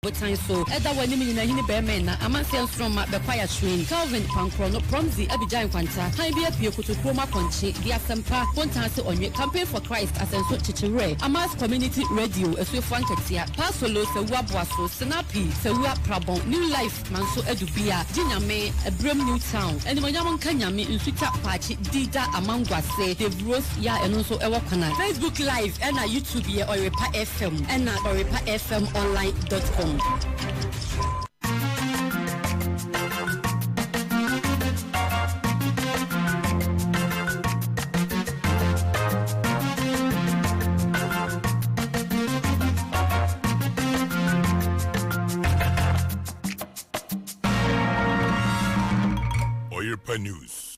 botan so ɛda wɔ anim nyina hini bɛɛma ɛna amanseɛ nsoromma bɛkwae ahyerɛn Calvin kwankorɔ no prɔmdzi abigyae nkwanta hann bi apue kotokuro mu akɔnkye de asɛmpa kontan ase ɔnwe campaign for Christ asɛnso kyekyewerɛ Amas community radio asuafoɔ ankatia paa solo sawu aboaso senapi sawu aprabɔn new life manso adu bia gye nyame ɛberɛm new town animonyam nka nyame nsutwa paakye dida amangwase dave rose Yɛ a ɛno nso wɔ kwan a. Facebook live ɛna YouTube yɛ Ɔyɛrepa FM ɛna Ɔyɛrepa FM online dot com. Ɔyɛrepa news.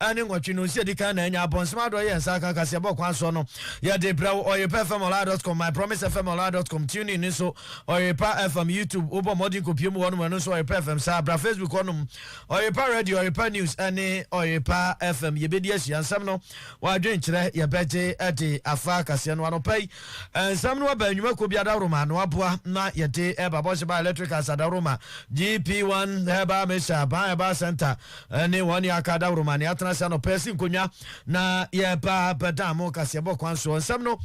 a ne nwɔtwe no nsi adi kan na anya abɔnsem adɔ yɛ nsa aka kaseɛbɔ ɔkwan soɔ no yɛ de brɛ wo Ɔyepa FM Online dot com, My Promise FM Online dot com, TuneIn ne so Ɔyepa FM, YouTube wo bɔ mmɔden kɔpie mu hɔ nom ɛno nso Ɔyepa FM saa bra Facebook hɔ nom Ɔyepa Radio, Ɔyepa News ne Ɔyepa FM yɛbɛdi asua nsɛm no wɔ adwenkyerɛ yɛbɛgye de afa kaseɛ no anɔpa yi nsɛm no aba nnwuma kɔ bi adaworoma na waboa na yɛde ɛba bɔhyɛ ba electric asadawroma GP1 Herbal Mixture ban Herbal Center ne wɔn ne aka adaworoma ne atena ase anɔpa asi nkonnwa na yɛba bɛda mo kaseɛbɔ kwan soɔ nsɛm no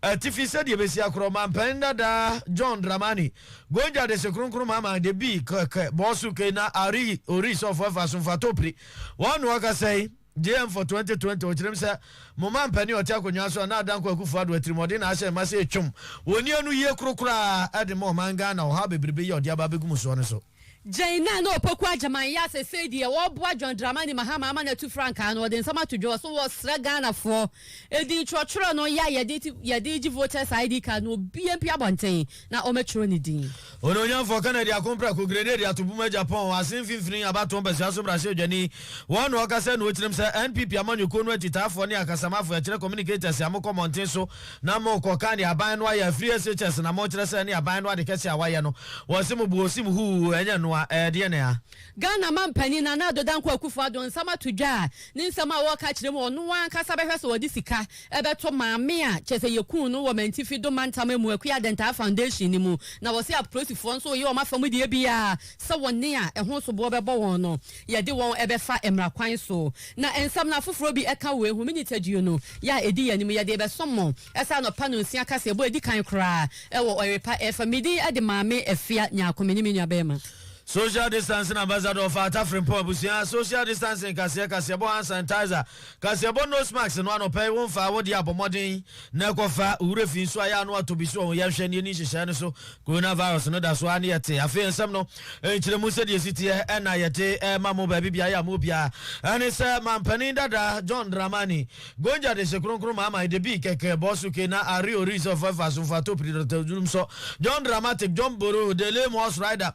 atifi sɛdeɛ ɛbɛsi akorɔ mampɛn dada John Dramani Gonja de se kronkron mama de bi kɛkɛ bɔɔso kei na ari ori sɔfo ɛfa so mfa topiri wɔn na ɔkasa yi JM for 2020 ɔkyerɛm sɛ mo mampɛne ɔte akonnwa so a na adanko akufo ado atirimɔden na ahyɛ mma sɛ ɛtwam wɔn ni ano yie koro koraa de ma ɔman Ghana ɔhaw bebrebe yi a ɔde aba abɛgu mu soɔ no so. Gyɛn na na Opoku Agyemang yɛ a sesei deɛ ɔreboa John Dramani Mahama ama no atu frankaa no, ɔde nsɛm ato dwa so, Wɔsrɛ Ghanafoɔ, edin twerɛtwerɛ no yɛ a yɛde yɛde regye voters ID card no obiara mpue abɔnten na ɔmmɛtwerɛ ne din. Onuonyamfoɔ Kennedy Ako Mprako Grenade ato bum agya pɔn Ase mfimfini abatoɔ mpasua so mmarahyɛbdwani Wɔn na ɔkasa nuo kyerɛm sɛ NPP amanyɔkuo no akyitaafoɔ ne akasamafo yɛkyerɛ communicators a mokɔ mmɔnten so na mo kɔ ka deɛ aban no ayɛ afiri SHS na mo kyerɛ sɛ ɛne aban no ade kɛseɛ a wayɛ no wɔ se mo bu osim huu ɛnyɛ noa ɛɛdeɛ ne a. Ghana mampanin Nana Addo Dankwa Akufo-Addo nsɛm ato dwa a ne nsɛm a ɔreka kyerɛ mu a ɔno ankasa bɛhwɛ sɛ ɔde sika bɛto maame a kyerɛ sɛ yɛkuu no wɔ Mantifi Dome Mantam amu Akua Adentaa Foundation no mu na ɔse apolisifoɔ nso reyɛ wɔn afa mu deɛ biara sɛ wɔne a ɛho soboɔ bɛbɔ wɔn no Yɛde wɔn bɛfa mmara kwan so. Na nsɛm no afoforɔ bi ka wei ho, Me Nitaduo no, yɛ a ɛdi yɛn anim, yɛde rebɛsom mo, saa anɔpa nonsia kaseɛbɔ a ɛdi kan koraa wɔ Ɔyerepa ɛfa me din de Maame Afia Nyarko, me ne me nuabarima. Social Distancing Ambassador for Atafrempong Abusua, Social Distancing Kaseɛ, Kaseɛbɔ Hand Sanitizer, Kaseɛbɔ nose mask no anɔpa yi wo mfaa wode abɔ mmɔden na ɛkɔ fa wo werɛ fi nso a yɛ ano atɔ bi so ɔho yɛnhwɛ ne yɛni nhyehyɛɛ no so coronavirus no da so ara ne yɛte afei nsɛm no nkyerɛmu sɛdeɛ ɛsi teɛ ɛna yɛde ɛma mo baabi biara yɛ ama obiara ɛne sɛ mampanin dada John Dramani Gonja de hye kronkron ma ama de bi kɛkɛ bɔ so ke na are ori sɛ ɔfɔ ɛfa so mfa topiri dɔtɔ dwurum sɔ John Dramatic John Boro Dele Moss Rider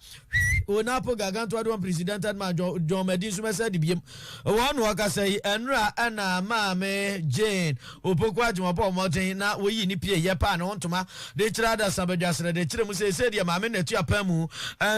Hwi o n'apo gargantua do unprecedented man John John Madi nso mɛsɛ de biem wɔn na wɔkasa yi ɛnora ɛna maame Jane Opoku Agyen wɔbɔɔ mmɔden na wɔyii ne pie yɛ paa ne ho ntoma de kyerɛ adasa badwasrɛ de kyerɛ mu sɛ ɛsɛ deɛ maame Natu apam mu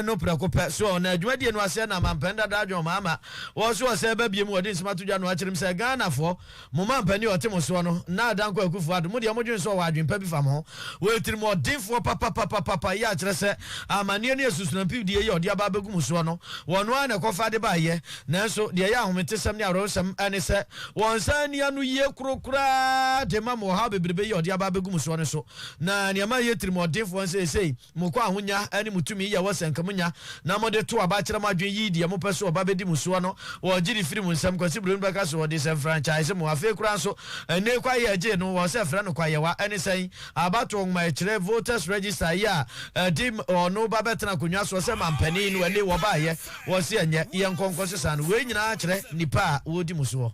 no prɛko pɛ so na adwumadie no aseɛ na mampɛn dada adwen wɔn ama wɔso ɔsɛ ba biem wɔde nsɛm ato dwa na wɔakyerɛ mu sɛ Ghanafoɔ Mo mampanin a ɔte mo soɔ no, Nnaah Dankwa Akufo-Addo, mo deɛ mo dwene sɛ ɔwɔ adwene pa bi fa mo ho. Ɔyɛ tirimuɔdenfoɔ papapapapapa, yei akyerɛ sɛ amanneɛ ne asusunampidiɛ yi a ɔde aba abɛgu mo soɔ no, ɔno ara na ɛkɔfa ade baeɛ. Nanso deɛ ɛyɛ ahometesɛm ne awerɛhosɛm ne sɛ, ɔnsan nni anoyie koro koraa de mma mo ɔhaw bebrebe yi a ɔde aba abɛgu mo soɔ no so. Na nea ɛma ɛyɛ tirimuɔdenfoɔ ne sɛ seesei, Mo kɔ ahonya ne mo tumi yɛ wɔ sɛnkamunya na mo de to aba kyerɛ mo adwene yi deɛ mo pɛ so ɔba bɛdi mo soɔ no wɔ gye de firi mo nsam Kwasi Broni bɛka so ɔde sɛ mfrankyise mo afei koraa nso ɛnee kwaeɛ ɛgyee no wɔ sɛ frɛ no kwaeɛwa ɛne sɛn abatoɔ nwoma ɛkyerɛ voters register yi a ɛde ɔno ba bɛtena akonnwa soɔ sɛ mampanin no ɛnee wɔbaeɛ wɔ se ɛnyɛ yɛnkɔ nkɔ sesa no wei nyinaa kyerɛ nnipa a wɔredi mo soɔ.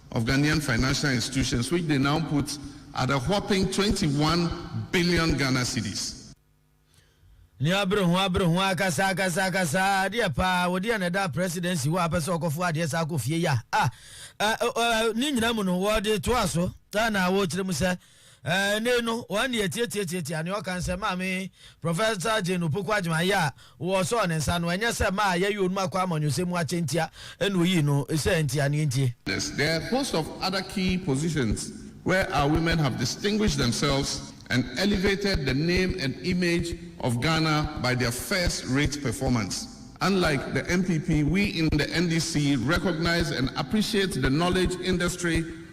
of Ghanaian financial institutions which they now put at a whopping twenty one billion Ghana cedis. Ne abere ho abere ho akasa akasa akasa adeɛ paa wo deɛ na ɛda presidency hɔ a pɛ sɛ ɔkɔfo adeɛ saa kɔ fie ya ah ah ne nyina mu no wɔde toa so na wɔkyerɛ mu sɛ Ɛnnɛ no, wɔn nne atiatiatiatia nea ɔka no sɛ, Maame Professor Jane Opoku Agyeman, ayɛ a wɔsɔɔ ne nsa no, ɛnyɛ sɛ mmaa a yɛayi wɔn akɔ amanyɔsɛm mu akyɛ ntia na oyii no sɛ nti anaa entie. There are host of other key positions where our women have distinguished themselves and elevated the name and image of Ghana by their first rate performance. Unlike the NPP, we in the NDC recognize and appreciate the knowledge industry,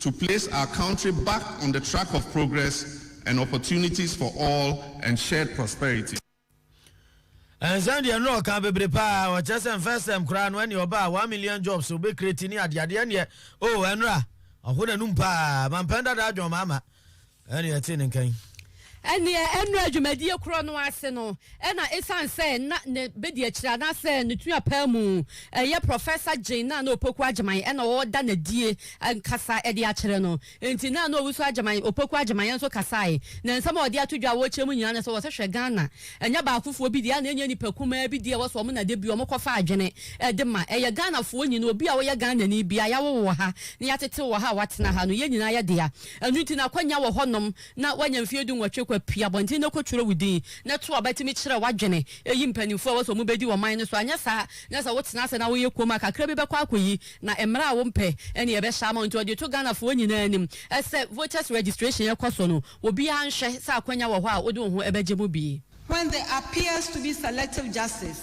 to place our country back on the track of progress and opportunities for all and shared prosperity. Nsɛm deɛ no ɔka bebre paa ɔkyerɛ sɛ nfɛ sɛm koraa no ɛneɛ ɔba a one million jobs ɔbɛ create ne adeade ɛneɛ oh ɛnora ɔho nanum paa mampɛn dada adwon maama Ɛnneɛ ɛtee ne nka yi. Ɛnneɛ nnora dwumadie korɔ no ase no, ɛna ɛsiane sɛ na ne bɛdiakyire anaasɛ ne tuapaa mu yɛ Professor Jane Nana Opoku Agyeman ɛna ɔreda no adie ankasa de akyerɛ no nti, Nana Owusu Agyeman, Opoku Agyeman, nso kasaeɛ. Na nsɛm a ɔde ato dwa a wɔrekyerɛ mu nyinaa ne sɛ, wɔ sɛ hwɛ Ghana ɛnyɛ baakofoɔ bi deɛ a na ɛnyɛ nnipa kumaa bi deɛ a ɛwɔ sɛ wɔn na da bi wɔkɔfa adwene de ma. Ɛyɛ Ghanafoɔ nyinaa, obi a ɔyɛ Ghanani biara, yɛawo wo wɔ ha na yɛatete wo wɔ ha a woatena ha no, yɛn nyinaa yɛ dea. Ɛno nti na akwanya wɔ hɔnom na woanya mfeɛ dunwɔtwe kɔ pue abɔnten na kɔtwerɛ wo din na to aba tumi kyerɛ w'adwene yi mpanimfoɔ a ɛwɔ sɛ wɔbɛdi ɔman no so anyɛ saa na sɛ wotena ase na woyɛ komm a kakra bi bɛkɔ akɔyi na mmerɛ a wompɛ ne ɛbɛhyɛ ama wo nti ɔde to Ghanafoɔ nyinaa anim sɛ voters registration ɛkɔ so no obiara nhwɛ sɛ akwanya wɔ hɔ a wode wo ho bɛgye mu bi. When there appears to be selective justice.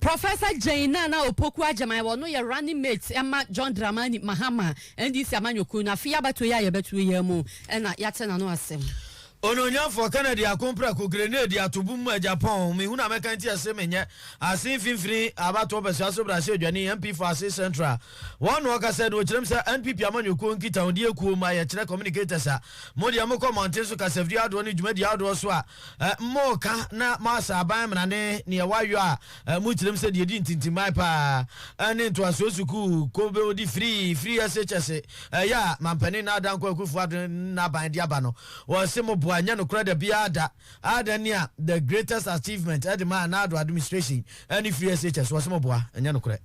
Professor Jane Nana Opoku Agyemang, ɔno yɛ running mate ma John Dramani Mahama, NDC amanyɔkuo no. Afei abatoɔ yi a yɛbɛtoɔ yi ara mu na yɛate n'ano asɛm. Onuonyamfoɔ Kennedy Ako Mprako, Grenade Atobum mu Agya Pɔn, Mehu na mɛka nti ɛse menyɛ ase mfimfini abatoɔ pɛsua so brahyɛdwani MP for Ase Central. Wɔn na wɔkasa no, wɔkyerɛm sɛ NPP amanyɔkuo nkitahodie kuo mma yɛkyerɛ communicators a modeɛ mokɔ mmɔnten so kasafidie ahodoɔ ne dwumadie ahodoɔ so a Moka na moasa aban mmrane neɛ wayɔ a mo tirim sɛ deɛ ɛdi ntintimman paa ne ntoasoɔ sukuu ko bɛɔdi firii firi SHS yɛ a Mampanin Nana Dankwa Akuffo Addo n'aban de aba no wɔse mo boa nyɛ nokorɛ da biara da adɛn nea the greatest achievement de maa Nana Addo administration ne firi SHS wɔse mo boa nyɛ nokorɛ.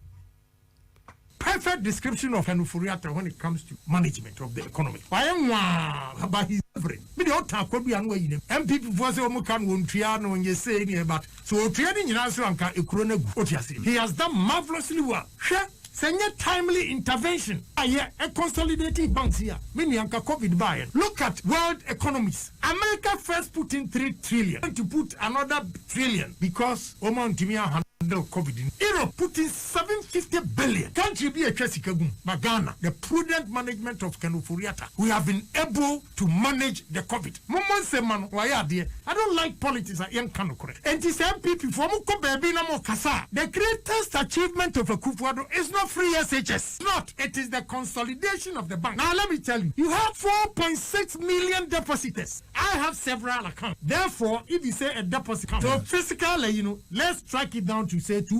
Perfect description of Anufuri Atta when it comes to management of the economy. Wayɛ nwaa but he is delivering. Me deɛ ɔtan akwadua no wayi ne MPP foɔ sɛ wɔn ka no wɔn tua no wɔn yɛ sei ne yɛ but sɛ ɔtua ne nyinaa nso anka ekuro no agu. Wote aseɛ? He has done marvellously well. Hwɛ, sɛ nyɛ timely intervention a yɛ consolidating banks yi a, me nua anka covid baeɛ no. Look at world economies. America first put in three trillion, went to put another trillion because wɔn antumi an-handle covid no. Europe put in Seven fifty billion country bi atwa sika gu mu ba Ghana the prudent management of Ken Ofori-Atta we have been able to manage the covid mommɔ nsɛm ma no wayɛ adeɛ I don't like politics a yɛnka nokorɛ enti sɛ NPP foɔ mo kɔ baabi na mo kasa a the greatest achievement of Akufuado is not free SHS not it is the consolidation of the bank now let me tell you you have four point six million depositors I have several accounts therefore if you say a deposit account so physically you know let's track it down to say two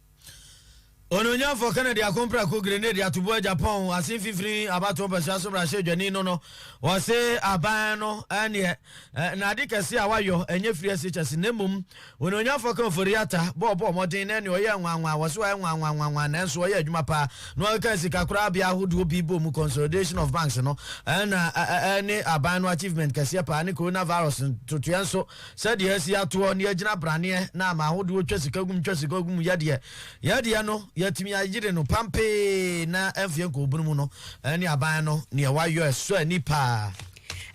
Onuonyamfo Kennedy ako mprako grenade atoboa Japan ase mfimfini abatoɔ mpasua so mmarahyɛdwani no no ɔse aban no ɛneɛ nade kɛse a wayɔ ɛnyɛ free SHS na mmom Onuonyamfo Ken Ofori-Atta bɔ ɔbɔ ɔmɔden na ɛneɛ ɔyɛ nwanwa wɔse wayɛ nwanwanwanwa nanso ɔyɛ adwuma paa na ɔkeka sika koraa bea ahodoɔ bi bɔ mu consolidation of banks no ɛna ɛne aban no achievement kɛseɛ paa ne coronavirus ntotoɛ nso Sɛdeɛ asi atoɔ ne agyina braneɛ na ama ahodoɔ twa sika gum twa sika gum yɛ deɛ yɛ deɛ no yɛatumi ayere no pampee na ɛmfeɛ nkɔ obunu mu no ɛne aban no neɛ wayɔ ɛsɔ ani paa.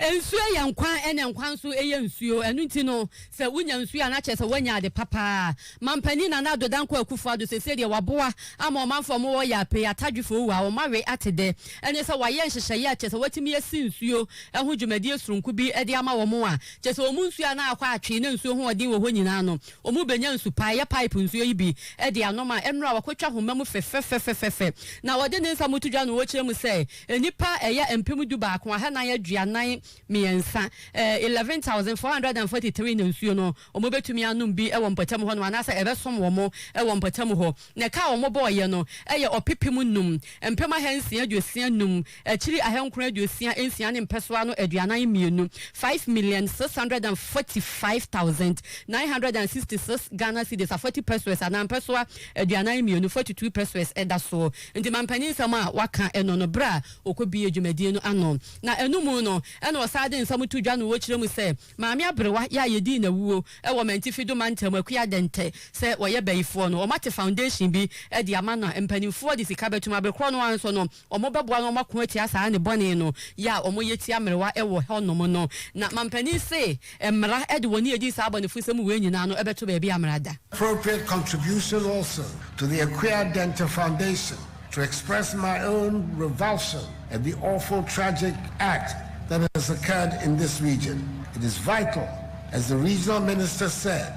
Nsuo yɛ nkwa ɛna nkwa nso yɛ nsuo ɛno nti no sɛ wonya nsuo a na kyerɛ sɛ woanya ade pa paa. Manpanin Nana Addo Dankwa Akufo Addo seesei deɛ waboa ama ɔmanfoɔ a wɔwɔ Yaapei, Atadwefoɔ Uwa a wɔn awe ate dɛ ɛne sɛ wayɛ nhyehyɛeɛ a kyerɛ sɛ watumi asi nsuo ho dwumadie sononko bi de ama wɔn a kyerɛ sɛ wɔn nsuo a na akɔ atwee na nsuo ho ɔden wɔ hɔ nyinaa no, wɔbɛnya nsu pa. Ɛyɛ pipe nsuo yi bi de anom a ɛnora a wɔakɔtwa homa mu fɛfɛfɛfɛfɛ. Na wɔde ne nsa mu to dwa no wɔkyerɛ mu sɛ nnipa ɛyɛ mpem du baako ahanan aduanan mmiɛnsa, eleven thousand four hundred and forty three, na nsuo no wɔbɛtumi anom bi wɔ mpɔtam hɔ nom anaasɛ ɛbɛsom wɔn wɔ mpɔtam hɔ. Na ɛka a wɔbɔeɛ no yɛ ɔpepem nnum, mpem ahansia aduosia nnum Akyiri ahankron aduosia nsia ne mpɛsoa ano aduanan mmienu, five million six hundred and forty five thousand nine hundred and sixty six Ghana cedis, afɔti pesewas anaa mpɛsoa aduanan mmienu, forty two pesewas, da soɔ. Nti mampanin nsɛm a waka no no berɛ a ɔkɔbuee dwumadie no ano na ɛno mu no na ɔsan de nsɛm to dwa no ɔkyerɛ mu sɛ Maame Aberewa yɛ a yɛdii no awuo wɔ Mantifido mantam Akua Dɛntɛ sɛ ɔyɛ bayifoɔ no wɔate foundation bi de ama na mpaninfoɔ de sika bɛtom. Aberekorɔ no ara nso no, wɔbɛboa na wɔako atia saa nnebɔne no yɛ a wɔyɛ tia mmerewa wɔ hɔnom no. Na mampanin se mmara de wɔn ani adi saa abɔnefosɛm wei nyinaa no bɛto baabi a mmara da. Appropriate contribution also to the Akua Dente Foundation to express my own revulsion at the awful tragic act that has occurred in this region. It is vital, as the regional minister said,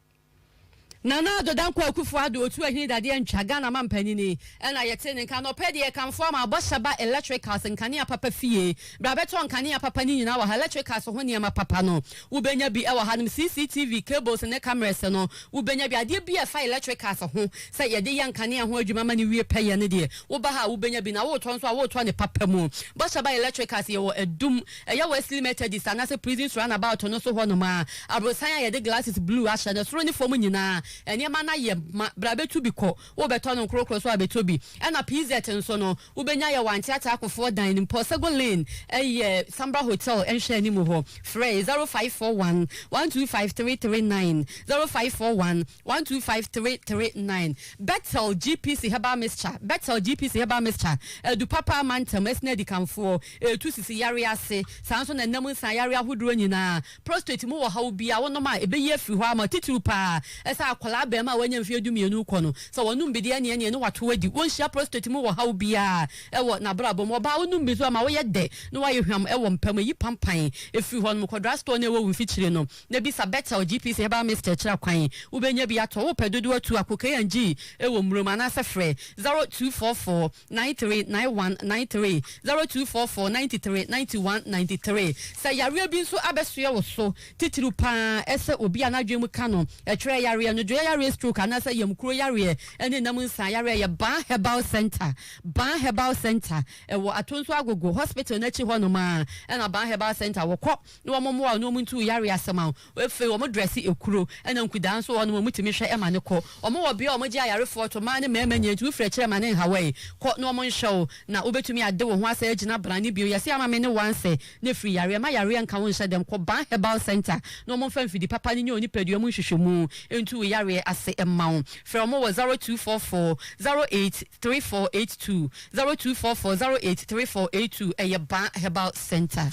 Nana Addo Dankwa Akuffo Addo Otu Ahene Dadeɛ Ntwa, Ghana Mampanyin yi na yɛtee ne nka. Anɔpɛ deɛ yɛkamfo ama Abɔhyɛba Electricals, nkanea papa fie. Bra bɛtɔ nkanea papa no nyinaa wɔ ha. Electricals ho nneɛma papa no, wobɛnya bi wɔ hanom. CCTV, cables ne cameras no, wobɛnya bi. Adeɛ biara a ɛfa electricals ho, sɛ yɛde yɛ nkanea ho adwuma ma no wie pɛyɛ no deɛ, woba ha a wobɛnya bi. Na woretɔ nso a, woretɔ no papa mu. Bɔhyɛba Electricals, yɛwɔ Adum, Ɛyɛ Wesley Methodist anaasɛ Prison's Runabout no so hɔnom a aborosan a yɛde glasses blue ahyɛ no soro ne fam nyinaa. Nneɛma no ayɛ ma. Bra betu bi kɔ. Wobɛtɔ no nkorokoro so abɛtɔ bi. Ɛna PZ nso no, wobɛnya yɛ wɔ Auntie Atakofoɔ dan no mu, Paul Sego Lane, ɛyɛ Sambra Hotel nhwɛanim hɔ. Frɛ, 0541 125 339, 0541. one two five three three nine Bethel GPC herbal mixture Bethel GPC herbal mixture Adu papa ama ntɛm Ɛsene adikanfoɔ Ɛtu sisi yareɛ ase Saa nso na ɛnam nsa yareɛ ahodoɔ nyinaa Prostate mu ɔhaw biara wonom a ɛbɛyi afiri hɔ ama Titiriw pa ara ɛsɛ akwadaa abarimaa a wanya mfeɛ dumienu rekɔ no Sɛ wɔnom bi deɛ ɛneɛ ɛneɛ ne wato adi Wɔnhyia prostate mu ɔhaw biara wɔ n'abrabɔ mu Ɔbaa wonom bi nso ɛma woyɛ dɛ na woayɛ hwam wɔ mpa mu Ɛyi pampan firi hɔnom Kɔ drugstore no a ɛwɔ wo mfikyire no na bisa Betel GPS Herbal Mist kyerɛ kwan. Wobɛnya bi atɔ wo pɛ dodoɔ tu ako KNG wɔ mmuro mu anaasɛ frɛ 0244 939193, 0244 93 91 93. Sɛ yareɛ bi nso abɛsoɛ wo so, titiriw pa ara sɛ obi a n'adwene mu ka no, ɛtwerɛ yareɛ, nnodwoeɛ yareɛ, stroke anaasɛ yamkuro yareɛ ne nam nsa yareɛ yɛ Baa Herbal Centre. Baa Herbal Centre, ɛwɔ Atonso Agogo Hospital no akyi hɔ nom ara na Baa Herbal Centre wɔ. Kɔ. ne wɔn mmoa wɔn ne wɔn ntu yare asɛm a afei wɔn drɛse ekuro ɛna nkudaa nso wɔ hɔ nom a wɔn tumi hwɛ ɛma no kɔ wɔn wɔ bea a wɔn gye ayarefoɔ to mmaa ne mmarima nyinaa nti wo firi akyire ɛma no nhaw ɛyi kɔ na wɔn nhwɛ wo na wobɛtumi ade wo ho asɛ agyina bra ne bio yɛse ama me ne wo ansɛ ne firi yareɛ ma yareɛ nka wo nhyɛ dɛm kɔ ban herbal center na wɔn mfa mfidi papa ne nyɛ onipadua mu nhwehwɛmu ntu wo yareɛ ase mma wo frɛ wɔn wɔ zero two four four zero eight three four eight two zero two four four zero eight three four eight two ɛyɛ ban herbal center.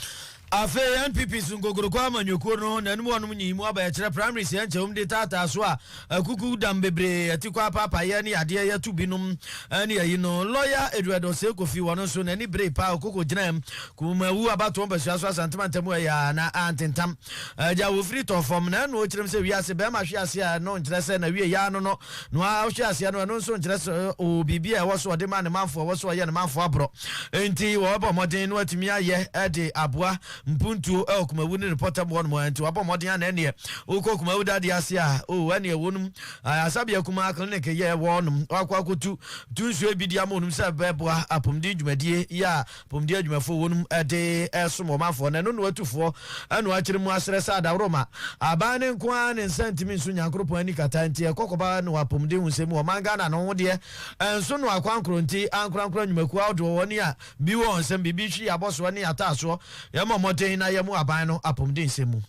Afei NPP so nkokroko amanyɔkuo no ho nanom wɔnom nyii mu aba yɛkyerɛ primaries yɛ nkyɛwm de taataa so a akuku dam bebree atikɔ apaapaeɛ ne yadeɛ yɛto bi nom ne ayi no lɔya Edward Osei Kofi wɔno nso nani beree paa ɔkoko gyinaɛm Kumawu abatoɔ mpasua so Asante mantamu ɛyɛ a na antentam agya wɔfiri tɔɔfam na ɛno ɔkyerɛm sɛ wiase bɛɛma hwe ase a ɛno nkyerɛ sɛ na wie yɛ ano no no ara ɔhwe aseɛ no, ɛno nso nkyerɛ sɛ ɔwɔ biribi a ɛwɔ so ɔde ma ne manfoɔ, ɛwɔ so ɔyɛ ne manfoɔ aborɔ. Enti wɔbɔ mmɔden na watumi ayɛ de aboa mpuntuo wɔ Kumawu ne ne pɔtam hɔ nom. Enti wabɔ mmɔden a na ɛneɛ wokɔ Kumawu dadeɛ ase a, o ɛneɛ wɔnom Asabea Kumaa Clinic yɛ wɔ hɔ nom. Wakɔ akɔtu tu nsuo bi de ama wɔnom sɛ ɛbɛboa apɔmuden dwumadie yɛ a Apɔmuden adwumafoɔ wɔ nom de resom wɔn afoɔ na ɛno na wɔatu foɔ na wɔakyere mu asrɛ sɛ adaworoma aban no nko ara ne nsa ntumi nso Nyankoropɔn ani kata nti ɛkɔ kɔba no apɔmuden ho sɛ mu ɔman Ghana no ho deɛ ɛnso no akwankorɔ nti ankorankora nnwumakuo ahodoɔ wɔ ne a bi wɔ wɔn nsam biribi hwi abɔsoɔ ne ataasoɔ yɛmmɔ mmɔden na yɛmmoa aban no apɔmuden sɛm mu.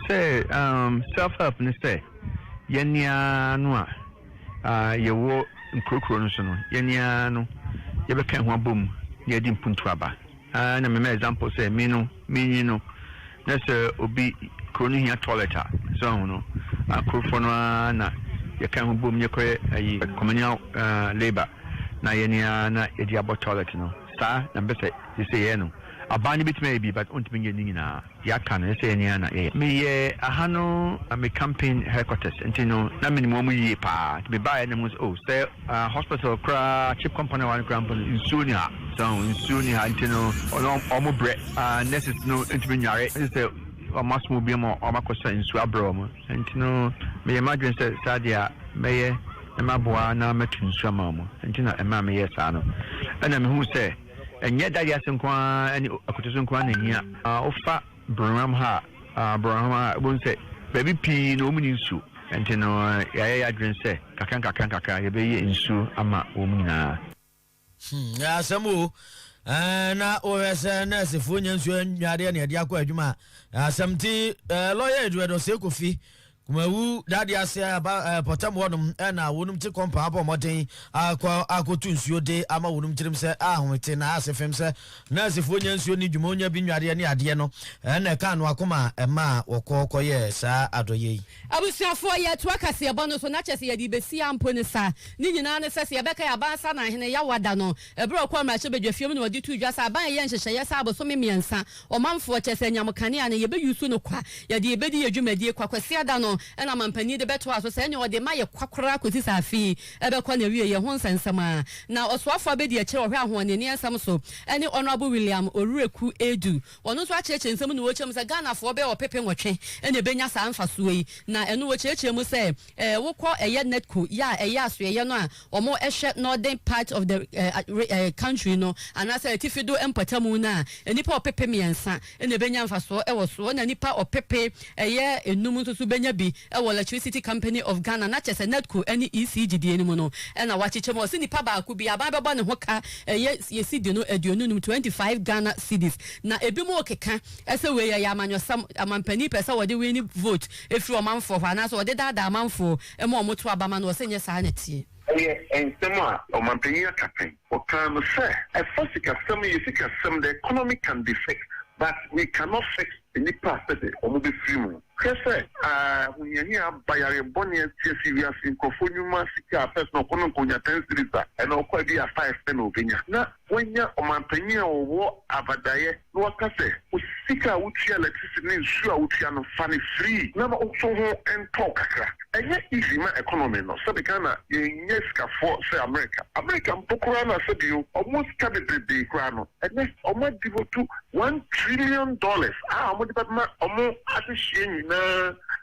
Sɛ umm self help ne sɛ yɛne ara no a yɛwɔ nkurokuro no so no yɛne ara no yɛbɛka ho abɔ mu na yɛde mpuntu aba aa na mema example sɛ me no me nyi no na sɛ obi kuro no hia toilet a sɛ ɔho no akurofoɔ no aa na yɛka ho bɔ mu yɛkɔyɛ ayi communal labor na yɛne ara na yɛde abɔ toilet no saa na mpɛ sɛ yɛsɛ yɛyɛ no abaa no bɛtumi ayɛ bi but ɔntumi nyɛ ne nyinaa. Yɛaka no sɛ yɛn a na yɛyɛ. Meyɛ aha no me campaign headquarters nti no na menim wɔn yie paa nti mebaeɛ na mehu sɛ oh sɛ hospital koraa chip company hɔ no koraa mpo no nsuo nni ha so ahu nsuo nni ha nti no na wɔn brɛ nurses no ntumi nnware gye sɛ wɔn asom obi ama wɔn akɔsa nsuo abrɛ wɔn nti no meyɛ m'adwene sɛ saa deɛ a mɛyɛ na maboa na mɛto nsuo ama wɔn nti na ɛmaa meyɛɛ saa no ɛna mehu sɛ. Ɛnyɛ dadeɛ ase nko ara ne akutu so nko ara na ehia. Wofa Bronham ha a, Bronham ha a, wobɛhu sɛ baabi pii no wɔnni nsuo. Ɛnti no yɛayɛ yɛn adwene sɛ kakra nkakra nkakra yɛbɛyɛ nsuo ama wɔn nyinaa. Hmm, ɛyɛ asɛm o. Eh, na wohwɛ sɛ nɛɛsefoɔ nya nsuo nnwa adeɛ na yɛde akɔ adwuma a, ɛyɛ asɛm. Nti eh, lɔya Edward Osei Kofi Kumawu, Dadeɛ ase, Aba, ɛɛ, Pɔtam hɔnom na wɔnom te kɔmpa abɔ mmɔden akɔ akɔtu nsuo de ama wɔnom tirim sɛ ahomete na ase fem sɛ nɛɛsefoɔ nya nsuo ne dwuma onya bi nnwareɛ ne adeɛ no na ɛkaa no akoma a ɛmaa wɔkɔ kɔyɛɛ saa adɔyɛ yi. Abusuafoɔ, yɛretoa kaseɛbɔ no so na kyerɛ sɛ yɛde rebɛsi ara mpo no saa. Ne nyinaa ne sɛ, sɛ yɛbɛkae Aban Asanan Hene Yawada no, ɛberɛ a ɔkɔɔ mmarahyɛbadwafie mu na ɔde too dwa sɛ Aban reyɛ nhyehyɛeɛ sɛ abosome mmiɛnsa Ɔmanfoɔ, kyerɛ sɛ anyamo kanea no, yɛbɛyusu no kwa, yɛde yɛbɛdi yɛn dwumadie kwa Kwasiada no, ɛna mampanin de bɛtoa so sɛ ɛnneɛ ɔde ma yɛ kwa koraa kɔsi sɛ afe yi bɛkɔ n'awieeɛ ho nsɛnsɛm a na ɔsoafoɔ abɛdi akyire ɔhwɛ ahoɔnenneɛ nsɛm so ne Honourable William Orueku Adu. Ɔno nso akyerɛkyerɛ nsɛm no mu, ɔkyerɛ mu sɛ Ghanafoɔ bɛyɛ ɔpepe nwɔtwe na ɛbɛnya saa mfasoɔ yi, na ɛno ɔkyerɛkyerɛ mu sɛ, Eh, wo kɔ ɛyɛ Netco yɛ a ɛyɛ asoɛyɛ no a ɔmo ɛhwɛ Northern part of the eh, re, eh, country no anaasɛ atifi do mpɔtamu no a, nnipa ɔpepe mmiɛnsa na ɛbɛnya mfasoɔ ɛwɔ soɔ na nnipa ɔpepe ɛyɛ nnum nso so bɛnya bi ɛwɔ Electricity Company of Ghana na kyɛsɛ Netco ɛne EC gyidie no mu no ɛna wɔakyekyɛ mu a ɔse nnipa baako bia aban bɛbɔ ne ho ka ɛyɛ yɛ cedi no aduonu nnum, twenty five Ghana cedis na ɛbi mo rekeka ɛsɛ wei ɛyɛ amanyɔsɛm, amampanin pɛ sɛ wɔde wini vote. firi ɔmanfoɔ hɔ, anaasɛ wɔde daadaa amanfoɔ ma wɔto aba ma no, ɔse nyɛ saa na ɛteɛ. Ɛyɛ nsɛm a ɔmanpanin aka pɛn. Ɔkaa no sɛ, ɛfa sikasɛm yɛ sikasɛm, the economy can be fixed but we cannot fix nnipa a sɛde wɔbɛfiri mu. Hwɛ sɛ ahohiahia aba, yareɛ bɔne asi, asi wiase nkurɔfoɔ nnwuma, sika a pɛ sɛ ɔkɔ no nka ɔnya ten cedis a, ɛnna ɔkɔ a ɛbia five pɛ na ɔbɛnya. Na Woanya ɔmampanyin a ɔwɔ avadaeɛ na waka sɛ, Wo sika a wotua electricity ne nsuo a wotua no, fa no firi na ma nso ho ntɔw kakra. Ɛnyɛ easy ma economy no, sɛbe Ghana yɛnyɛ sikafoɔ sɛ America. America mpo koraa no a sɛbe o, wɔn sika bebrebee koraa no, ɛnɛ wɔn a devote one trillion dollars a wɔde bɛma wɔn adehyeɛ nyinaa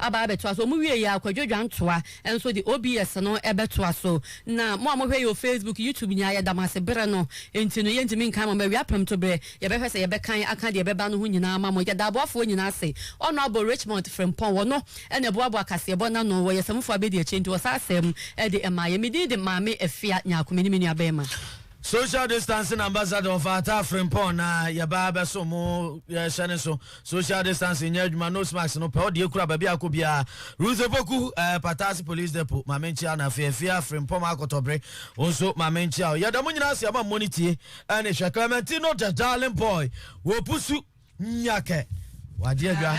aba abɛtoa so. Wɔn wieeɛ a, Kwadwo Dwantoa nso de OBS no bɛtoa so. Na mo a mohwɛ yɛn wɔ Facebook, YouTube nyinaa, yɛda mo ase. Berɛ no nti no, yɛntumi nkan mo, bɛwia prɛmtoberɛ, yɛbɛhwɛ sɛ yɛbɛkan aka deɛ ɛbɛba no ho nyinaa ama mo. Yɛda aboafoɔ nyinaa ase. Honourable Richmond Frimpong, ɔno na ɛboaboa kaseɛbɔ no ano, ɔyɛ samufo abadiakyire nti ɔsaa sam de maa yɛn. Me din de Maame Afia Nyarko, me ne me nuabarima. Social Distancing Ambassador Ɔfata Frimpong na yɛba abɛsom mo, yɛhyɛ ne so. Social distancing nyɛ adwuma, nose mask no pɛ, ɔde akura baabi a akɔ biara. Ruth Opoku, eh, Pataase Police Depot, ma menkyia no afei afie afrempɔm akɔtɔbere, wo nso ma menkyia wo. Yɛda mo nyinaa ase ama mmɔ ne tie ne hwɛ. Clementino the darling boy, wɔpusu, nyakɛ, wagye adwa.